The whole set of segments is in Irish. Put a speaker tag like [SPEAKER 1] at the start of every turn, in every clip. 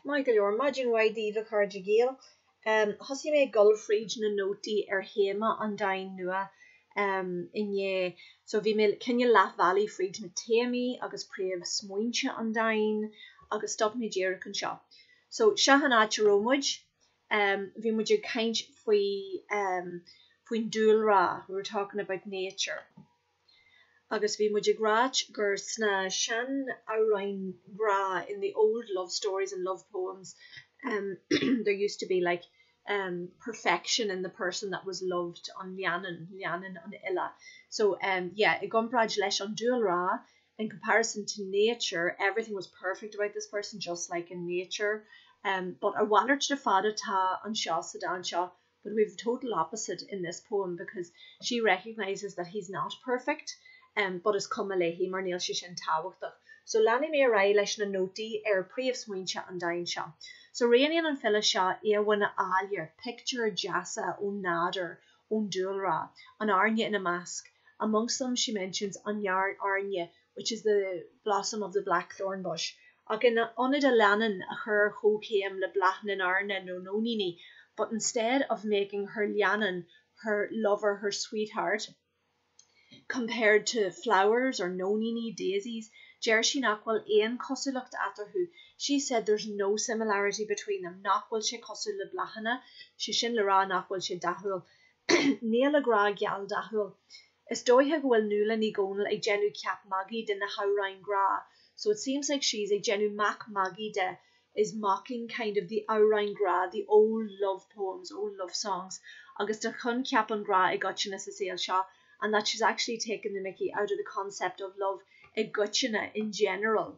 [SPEAKER 1] Maith go leor. Maidin mhaith daoibh, a chairde Gaeil. Thosaigh mé ag dul fríd na nótaí ar théama an dáin nua inné. So bhí mé cineál leath bealaigh fríd na téamaí agus príomhsmaointe an dáin agus stop mé díreach anseo. So seo an áit a raibh muid. Bhí muid ag caint faoi faoin dúlra, we were talking about nature. agus bhí muid ag ráit gur sna sean-amhráin ghrá in the old love stories and love poems there used to be like perfection in the person that was loved an leannán, leannan an fhile so yeah i gcomparáid leis an dúlra in comparison to nature everything was perfect about this person just like in nature but a mhalairt de fada atá anseo sa dán seo but we have the total opposite in this poem because she recognises that he's not perfect but is cuma léi mar níl sé sin tábhachtach. So leanfaidh mé ar aghaidh leis na nótaí ar príomhsmaointe an dáin seo. So rianaíonn an file seo íomhánna áille, pictiúir deasa ón nádúr, ón dúlra, an airne ina measc, amongst them she mentions an airne, which is the blossom of the blackthorn bush, ach in ionad a leannán a chur ar chomhchéim le bláthanna an airne nó nóiníní but instead of making her leannán, her lover, her sweetheart, compared to flowers or nóiníní, daisies, deir sí nach bhfuil aon chosúlacht eatarthu, she said there's no similarity between them nach bhfuil sé cosúil le bláthanna, sé sin le rá nach bhfuil sé dathúil. Níl a grá geal dathúil. Is dóiche go bhfuil Nuala Ní Dhomhnaill ag déanamh ceap magaidh de na hamhráin grá so it seems like she's ag déanamh mac magaidh de is mocking kind of the amhráin grá the old love poems old love songs agus de choincheap an ghrá i gcoitinne sa saol seo and that she's actually taking the mickey out of the concept of love i gcoitinne in general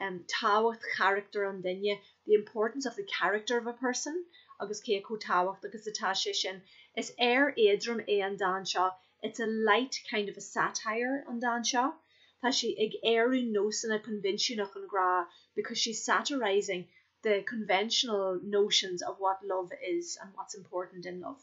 [SPEAKER 1] um tábhacht charachtar an duine, the importance of the character of a person, agus cé chomh tábhacht agus atá sé sin. Is aoir éadrom é an dán seo, it's a light kind of a satire, an dán seo. Tá sí ag aoradh nósanna coinbhinsiúnach an ghrá, because she's satirizing the conventional notions of what love is and what's important in love.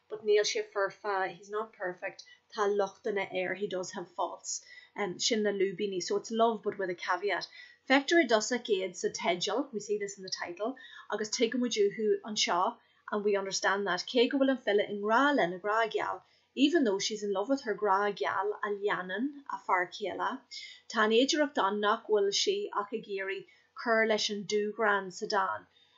[SPEAKER 1] but níl sé foirfe, he's not perfect tá lochtanna air, he does have faults sin na lúibíní so it's love but with a caveat. Feictear i dtosach iad sa teideal, we see this in the title, agus tuigimid uathu anseo, and we understand that, cé go bhfuil an file i ngrá lena grá geal, even though she's in love with her grá geal a leannán a fear céile, tá an fhéidireacht ann nach bhfuil sí ach ag iarraidh cur leis an dúghreann sa dán.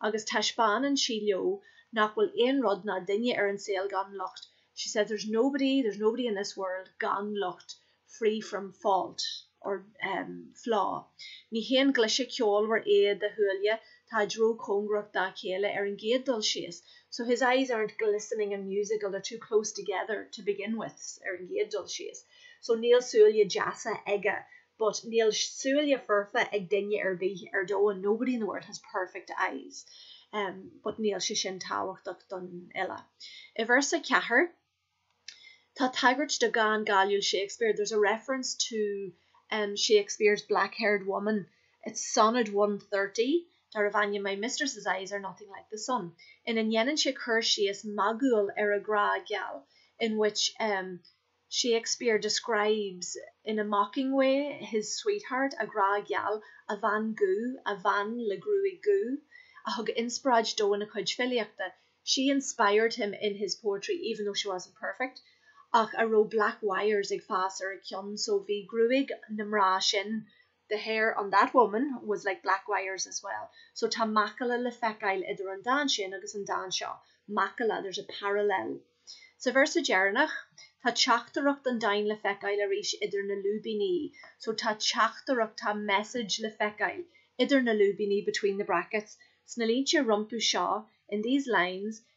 [SPEAKER 1] agus taispeánann sí leo nach bhfuil aon rud ná duine ar an saol gan locht, she says there's nobody, there's nobody in this world gan locht, free from fault or, um, flaw. Ní haon glaise ceolmhar iad a shúile, táid ró-chóngarach dá chéile ar an gcéad dul síos, so his eyes aren't glistening and musical, they're too close together to begin with ar an gcéad dul síos, so níl súile deasa aige But níl súile foirfe ag duine ar bith ar domhan, nobody in the world has perfect eyes. But níl sé sin tábhachtach don fhile. I véarsa a ceathair, tá tagairt do dhán cáiliúil Shakespeare, there's a reference to Shakespeare's black-haired woman, it's Sonnet one thirty, darbh ainm My mistress's eyes are nothing like the sun, ina ndéanann sé cur síos magúil ar a ghrá geal, in which. Shakespeare describes in a mocking way his sweetheart, a ghrá geal, a bhean dhubh, a bhean le gruaig dhubh, a thug inspioráid dó ina chuid filíochta, she inspired him in his poetry even though she wasn't perfect, ach a raibh black wires ag fás ar a cionn, so bhí gruaig na mná sin The hair on that woman was like black wires as well. So tá macalla le feiceáil idir an dán sin agus an dán seo. Macalla, there's a parallel. Sa véarsa deireanach, tá teachtaireacht an dáin le feiceáil arís idir na lúibíní. So tá teachtaireacht, tá message le feiceáil idir na lúibíní between the brackets. Sna línte rompu seo, in these lines,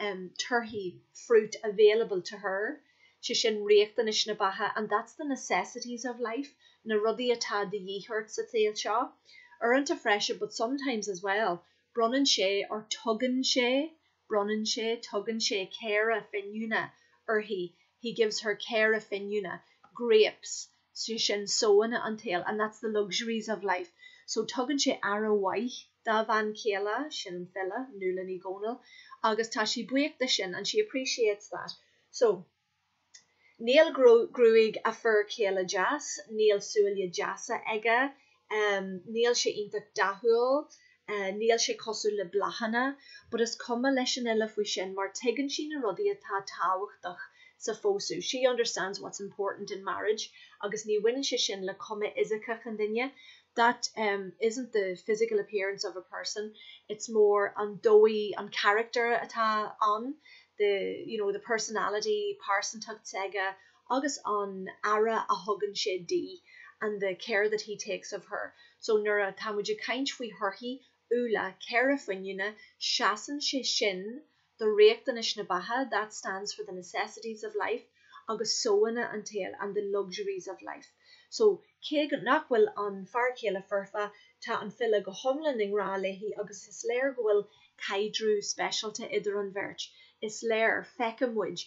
[SPEAKER 1] em, torthaí, fruit available to her, sé sin riachtanais na beatha and that's the necessities of life, na rudaí atá de dhíth ort sa tsaol seo. Uaireanta freisin but sometimes as well, bronnann sé or tugann sé, bronnann sé, tugann sé caora finiúna uirthi he gives her caora finiúna, grapes. sé sin sóanna an tsaoil, and that's the luxuries of life. So tugann sé aire mhaith dá bhean chéile, sin an file, Nuala Ní Dhomhnaill, agus tá sí buíoch de sin, and she appreciates that. So níl gruaig a fir céile deas, níl súile deasa aige, em níl sé iontach dathúil eh níl sé cosúil le bláthanna but is cuma leis an fhile faoi sin mar tuigeann sí na rudaí atá tábhachtach sa phósadh she understands what's important in marriage agus ní bhaineann sé sin le cuma fhisiceach an duine that em isn't the physical appearance of a person it's more an dóigh an character atá ann the you know the personality pearsantacht s'aige agus an aire a thugann sé di and the care that he takes of her so nuair a tá muid ag caint faoi thorthaí úlla caora finiúna seasann sé sin do riachtanais na beatha that stands for the necessities of life agus sóanna an tsaoil and the luxuries of life so cé nach bhfuil an fear céile foirfe tá an file go hiomlán i ngrá léi agus is léir go bhfuil caidreamh speisialta idir an bheirt is léir feiceann muid